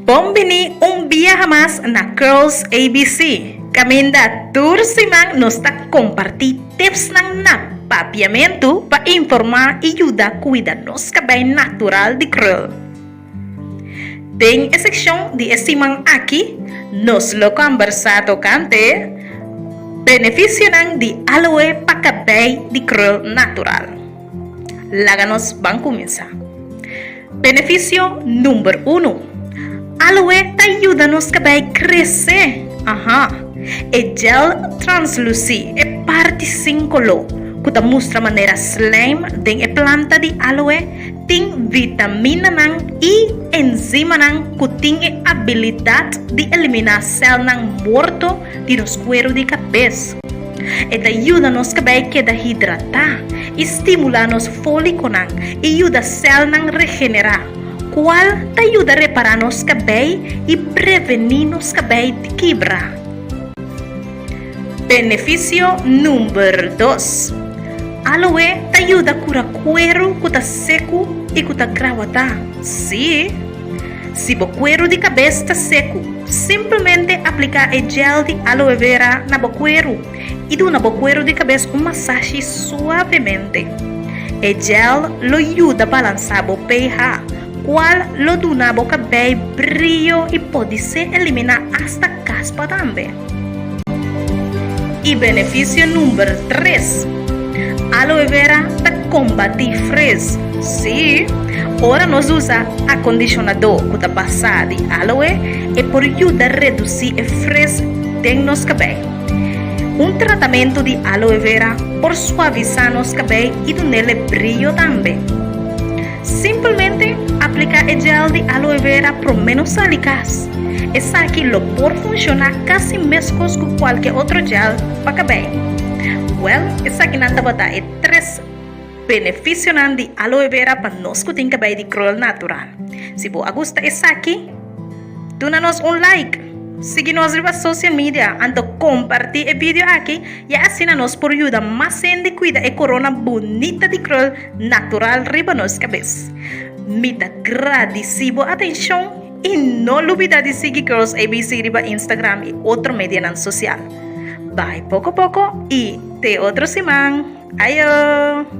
Bon bini un biaha mas na Curls ABC. Caminda tur siman nos ta comparti tipsnan na Papiamentu pa informa y yuda cuida nos cabei natural di krul. Den e seccion di e siman aki nos lo combersa tocante beneficionan di aloe pa cabei di krul natural. Laga nos ban kuminsá. Benefisio number uno, Aloe ta yuda nos kabei kresé! Aha! E gel translusí, e parti sin koló, ku ta mustra manera slijm den e planta di aloe tin vitaminanan i enzimanan ku tin e abilidat di eliminá sèlnan morto di nos kueru di kabes. E ta yuda nos cabé keda hidratá i stimulá nos fóliconan i yuda celnan regenerá, cual ta yuda repará nos cabé i prevení nos cabé di kibra. Beneficio number dos, Aloe ta yuda cura cuero cu ta secu i cu ta grahuatá. Sí! Si bo kueru di kabes ta seku, simplemente apliká e jel di aloe vera na bo kueru i duna bo kueru di kabes un masashi suavemente. E jel lo yuda balansá bo pH, kual lo duna bo kabei brio i por di se eliminá asta kaspa tambe. I benefisio number tres. Aloe vera ta kombatí frizz. Sí, ora nos usa akondishonadó ku ta basá di aloe, e por yuda redusí e frizz den nos kabei. Un tratamentu di aloe vera por suavisá nos kabei i dun'é lep brillo tambe. Simplemente aplica e gel di aloe vera prome no sali cas. Esaki lo por funciona casi mescos cu cualke otro gel pa cabei. Well, esakinan tabata e tres beneficionan di aloe vera pa nos cu tin cabei di krul natural. Si bo a gusta esaki, duna nos un like, sigui nos riba social media anto comparti e video aki y asina nos por yuda mas hende cuida e corona bunita di krul Natural riba nos cabes. Mi ta gradisi bo atencion y no lubida di sigui Girls ABC riba Instagram y otro medianan social. Bay poco poco y te otro siman. Ayo!